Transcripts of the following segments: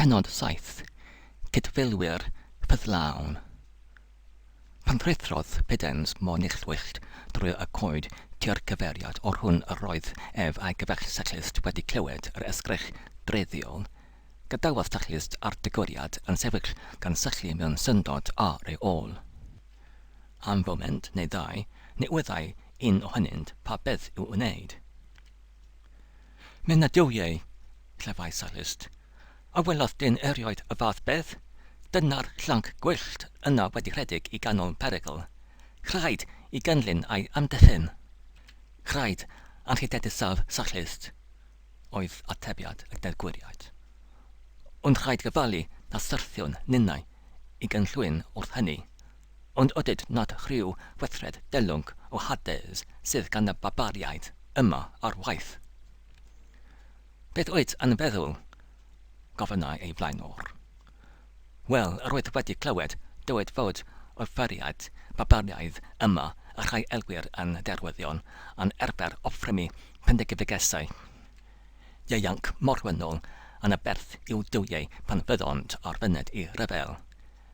Pennod 7, Cydfeilwyr Ffyddlawn Pan ruthrodd Pudens mor neilltuol drwy y coed tua'r cyfeiriad o'r hwn yr oedd ef a'i gefell Cyclist wedi clywed yr esgyrch dreiddiol, gadawodd Cyclist a'r degwriad yn sefyll gan syllu mewn syndod ar ei ôl. Am foment neu ddau ni wyddai un ohonynt pa beth i'w wneud. Nid na dyw ei, clefai Sallust, a welodd dyn erioed y fath beth, dyna'r llanc gwyllt yna wedi rhedeg i ganol perygl. Rhaid i gynllun a'i amddiffyn. Rhaid anrhydeddusaf Sallust, oedd atebiad y deddgwriaid. Ond rhaid gofalu na syrthiwn ninnau i gynllwyn wrth hynny. Ond ydyd nad rhyw weithred delwng o Hades sydd gan y barbariaid yma ar waith? Beth wyt yn feddwl? gofynnai ei flaenor. Wel, yr oedd wedi clywed dywed fod offeriaid barbariaidd yma y rhai elwir yn derwyddion yn arfer offrymu pendegefigesau ieuanc morwynol yn aberth i'w duwiau pan fyddont ar fyned i ryfel.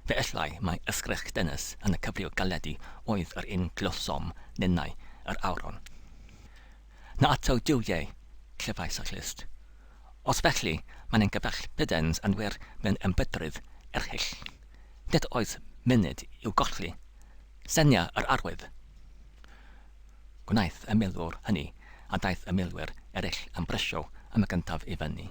Fe ellai mai ysgrych dynys yn y cyfryw galedi oedd yr un glywsom ninnau yr awron. Na ato Duw ie, clefais y clust. Os felly, mae'n ein gyfaill Prydens yn wir mewn ymfedrwydd erchyll. Nid oes munud i'w golli. Senia yr arwydd! Gwnaeth y milwr hynny, a daeth y milwyr eraill yn brysio am y gyntaf i fyny.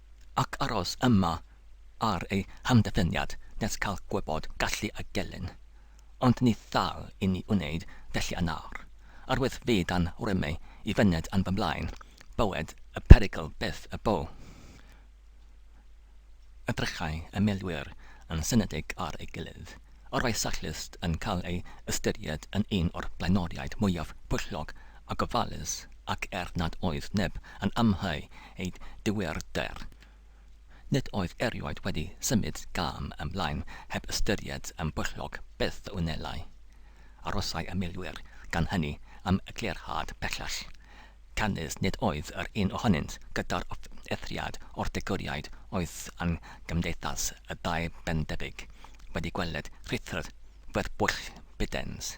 ac aros yma ar ei hamddiffyniad nes cael gwybod gallu a gelyn. Ond ni ddal i ni wneud felly yn awr. Yr wyf fi dan rymu i fyned yn fy mlaen, bywyd y perygl byth y bo. Edrychai y milwyr yn synedig ar ei gilydd. Yr oedd Sallust yn cael ei ystyried yn un o'r blaenoriaid mwyaf pwyllog a gofalus, ac er nad oedd neb yn amhau ei dyweder. Nid oedd erioed wedi symud gam ymlaen heb ystyried yn bwyllog beth a wnelai. Arosai y milwyr, gan hynny, am eglurhad pellach. Canys nid oedd yr un ohonynt gyda'r offeithriad o'r degwriaid oedd yn gymdeithas y dau bendebyg, wedi gweled rhithwr fferbwyll Bidens.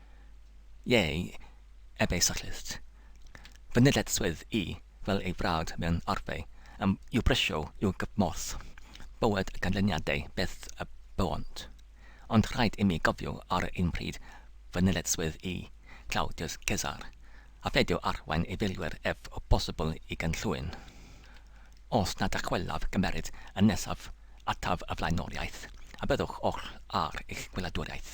Ie, a beicyclist. Fy nleddychwyd i fel ei frawd mewn arfau, am i'w brysio i'w gymorth, bywyd a ganlyniadau beth y bywont. Ond rhaid imi gofio ar yr un pryd fy nleddychwyd i, Claudius Caesar, a pheidio arwain ei filwyr ef o bosibl i gynllwyn. Os na dychwelaf gymeryd y nesaf ataf y flaenoriaeth, a byddwch oll ar eich gwyladwriaeth.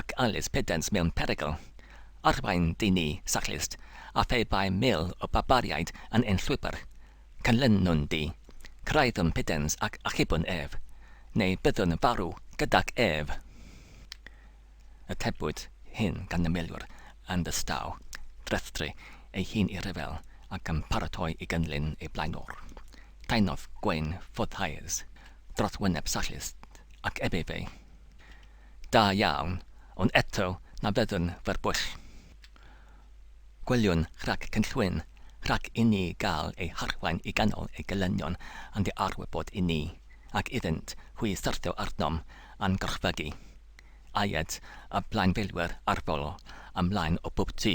ac Alys Pedans mewn perygl, arwain dyn ni, cyclist, a phe bai mil o barbariaid yn ein llwybr, canlynwn di, cyrhaeddwn Pedans ac achubwn ef, neu byddwn yn farw gydag ef! Atebwyd hyn gan y milwr yn ddistaw, drethdy ei hun i ryfel ac yn paratoi i gynllun ei blaenor. Taenodd gwên ffwrdd haearns dros wyneb cyclist ac ebydd ei. da iawn, ond eto na fyddwn fer bwyll. Gwyliwn rhag cynllwyn, rhag i ni gael ei harwain i ganol ei gelynion yn dy arwybod i ni, ac iddynt hwy syrthio arnom a'n gorchfygu. Aed, y blaenfeilwyr arferol, ymlaen o bob tŷ,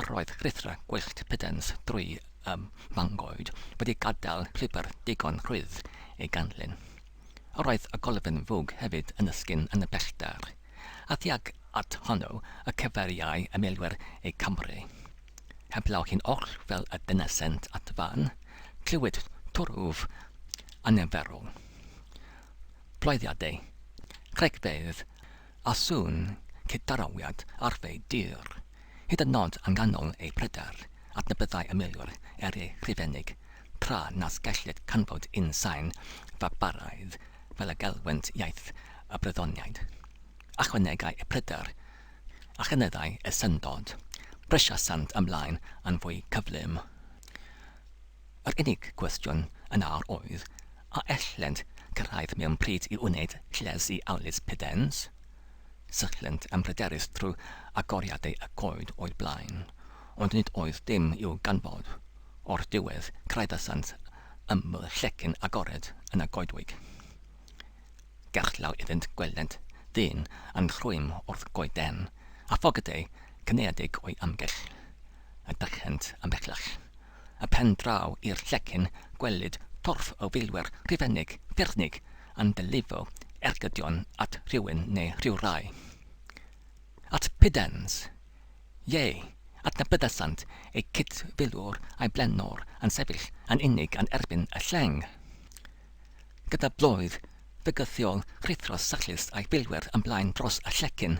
Yr oedd rhuthra gwyllt Pudens drwy y mangoed wedi gadael llwybr digon rhydd ei ganlyn. Yr oedd y golofn fwg hefyd yn ysgyn yn y pellter, a thuag at honno y cyfeiriai y milwyr eu camre. Heblaw hi'n oll fel y dynasent at fan, clywid twrf anarferol. Bloeddiadau cregfeydd a sŵn cydnawiad arfau dur, hyd yn nod yn ganol ei pryder adnabyddai y milwr er ei Rhufeinig, tra nas gellid canfod un sain fabaraidd fel y gelwent iaith y Brythoniaid. Ychwanegai y pryder a chynyddai y syndod, brysiasant ymlaen yn fwy cyflym. Yr unig gwestiwn yn awr oedd a ellent gyrraedd mewn pryd i wneud lles i Alys Pydens? Syllent yn bryderus trwy agoriadau y goed o'u blaen, ond nid oedd dim i'w ganfod. O'r diwedd, craeddasant ymyl llecyn agored yn y goedwig. Gerllaw iddynt gwelent ddyn yn rhwym wrth goeden, a phocedau cynaeadig o'i amgylch. Edrychent ymhellach. y pen draw i'r llecyn gwelid torf o filwyr Rhufeinig ffyrnig yn delifo ergydion at rhywun neu rhywrai. At Pudens! Ie, adnabyddasant eu cyd-filwr a'i blaenor yn sefyll yn unig yn erbyn y lleng. gyda blwydd fygythiol rhuthros sychlist a'i filwyr yn blaen dros y llecyn,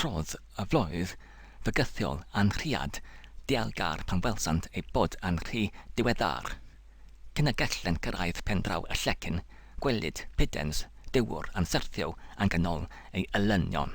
trodd y flwydd fygythiol yn rhiad dialgar pan welsant eu bod yn rhy ddiweddar cyn y gellent gyrraedd pen draw y llecyn, gwelid Piddens, dywr, yn syrthio yn ganol ei elynion.